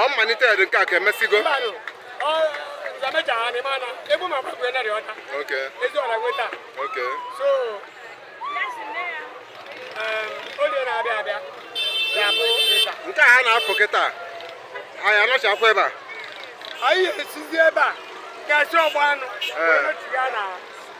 ọ mmalite dị nke a ka emesigo nke a ha na-apụ kịta anyị anọchakwa ebe a anyị esizi ebe a gasị ọgba anụ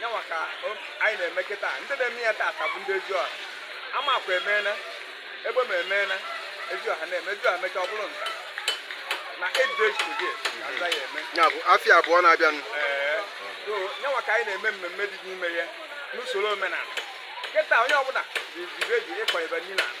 nyanwa ka anyị na-eme kịta ndị na-eme ya tata bụ ndị eziọha amakwa emeela egbema emeela eziọha na-eme eziọha mecha ọ bụrụ nza na edejide nza ya eme ya bụ afịa abụọ na-abịanụ ee so nyanwa ka anyị na-eme mmemme dị n'ime ya n'usoro omenala kịta onye ọbụla ji ji redio ịkọ ebe niile ala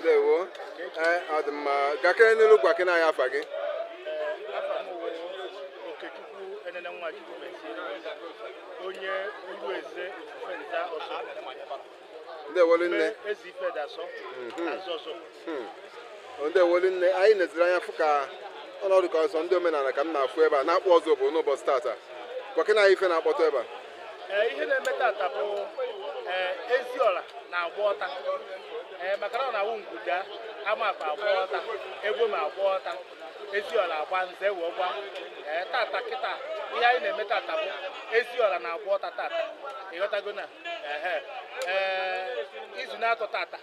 ndewo ee ọ dị mma gakene n'iru gwa kene anyị afa gị Okechukwu Enene Nwachukwu Mesie, onye Ugwu Eze Ofufe Nza Ozubulu, ndewolu nne mee Eze Ife Dasọ, Azọzọ. ndewo rinne anyị neziri anya fụ na ọ dịka ọ sọ ndị omenala ka m na-afụ ebe a n'Akpụ Ozubulu n'ụbọchị tata gwa kene anyị ife na-akpọtụ ebe a ee ihe na-eme tata bụ ee eziọla na-agba ọta ee maka na ọ na-awụ ngwu daa amakwa agba ọta egbema agba ọta eziọla agba nza ewee gba ee tata kịta ihe anyị na-eme tata bụ eziọla na-agba ọta tata ịghọtago na ehe ee izu n'atọ tata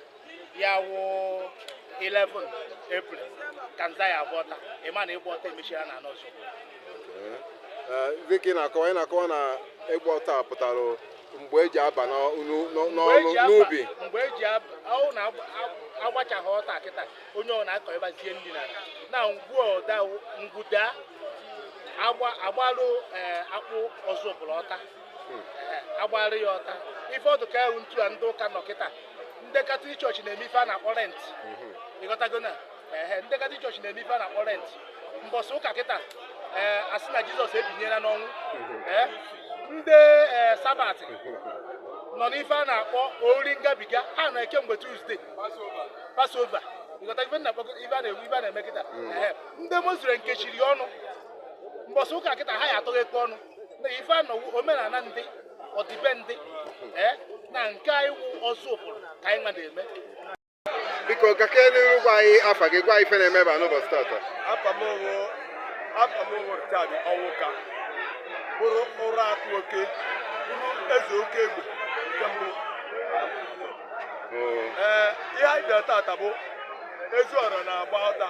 ya wụ 11 April ka nza ya agba ọta ị ma na ịgba ọta emechiela na anọ ọzọ Ee, dịka ị na-akọwa ị na-akọwa na ịgba ọta a pụtara mgbe eji aba n'ọ- n'ụ- n'ọ- Mgbe n'ọlụ eji aba- n'ubi mgbe eji ab- ọ bụ na agba- ag- agbachaa ọta kịta onye ọbụna akọbazie nri na ala. na ngwu ada ngwu daa agba agbalụ eh, Akpụ Ozubulu ọta agbara ya ọta ife ọ dịka ya wụ ntụ a ndị ụka nọ kịta ndị katọlik chọọchị na-eme ife a na-akpọ lent ịghọtago na ehe ndị katọlik chọọchị na-eme ife a na-akpọ lent mbọsị ụka kịta ee asị na jizọs ebinyela n'ọnwụ ee ndị ee sabat nọ n'ife a na-akpọ oriri ngabiga ha nọ kemgbe tuzdee pasova ịghọta ife na-akpọ ife a nwa wụ ife a na-eme kịta ehe ndị muslim kechiri ọnụ mbọsị ụka kịta ha ya atọghekwa ọnụ na ife a nwa wụ omenala ndị ọdịbendị ee na nke anyị wụ ozubulu ka anyị nwa na-eme biko gake n'iru gwa anyị afa gị gwa ife na-eme ebe a n'ụbọchị tata afa m wụ afa m wụ richard ọnwụka bụrụ ụra atụ oke bụrụ eze oke egbe nke mbụ ee ihe anyị bịara tata bụ eziọra na-agba ọta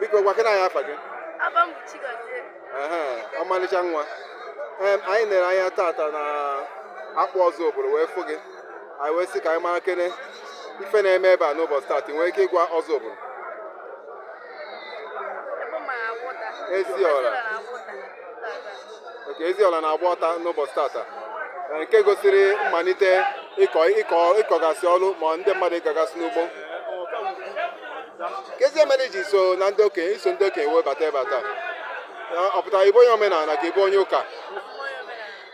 biko gwakene anyị afa gị Afa m bụ Chigozie. Ehe, ọmalịcha nwa Em, anyị nere anya tata na Akpụ Ozubulu wee fụ gị anyị wee sị ka anyị marakene ife na-eme ebe a n'ụbọchị tata ị nwere ike ịgwa Ozubulu Egbema na-agba ọta. Eziọra. Egbema na-agba ọta. okay Eziọra na-agba ọta n'ụbọchị tata nke gosiri mmalite ịkọ ịkọ ịkọgasị ọrụ ma ndị mmadụ ịgagasị n'ugbo kezi ife mere i ji so na ndị okenye iso ndị okenye wee bata ebe a taa ọ pụtara ị bụ onye omenala ka ị bụ onye ụka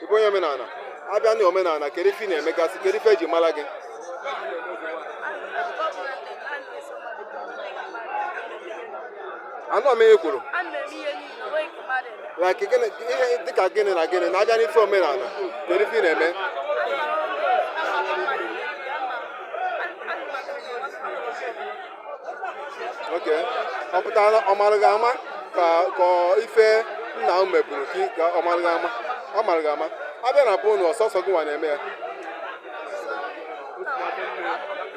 ị bụ onye omenala a bịa na omenala kedu ife ị na-emegasị kedu ife e ji mara gị anụ ọmịrị kwuru like gịnị ihe dịka gịnị na gịnị na a bịa n'ife omenala kedu ife ị na-eme okay ọ pụtara ọ mara gị ama ka ka ife nna m meburu ka ị- ka ọ mara gị ama ọ mara gị ama a bịa na be unu ọ sọsọ gị nwa na-eme ya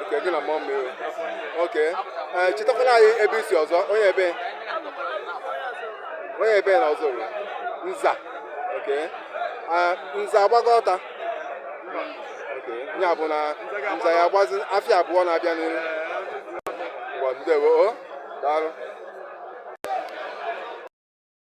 okay gị na mmụọ mmiri okay ee chetakwala anyị ebe i si ọzọ onye ebe onye ebe na Ozubulu Nza okay Ah, Nza agbago ọta ya bụ na Nza ya-agbazi afịa abụọ na-abịa n'ihu ụwa ndewo o daalụ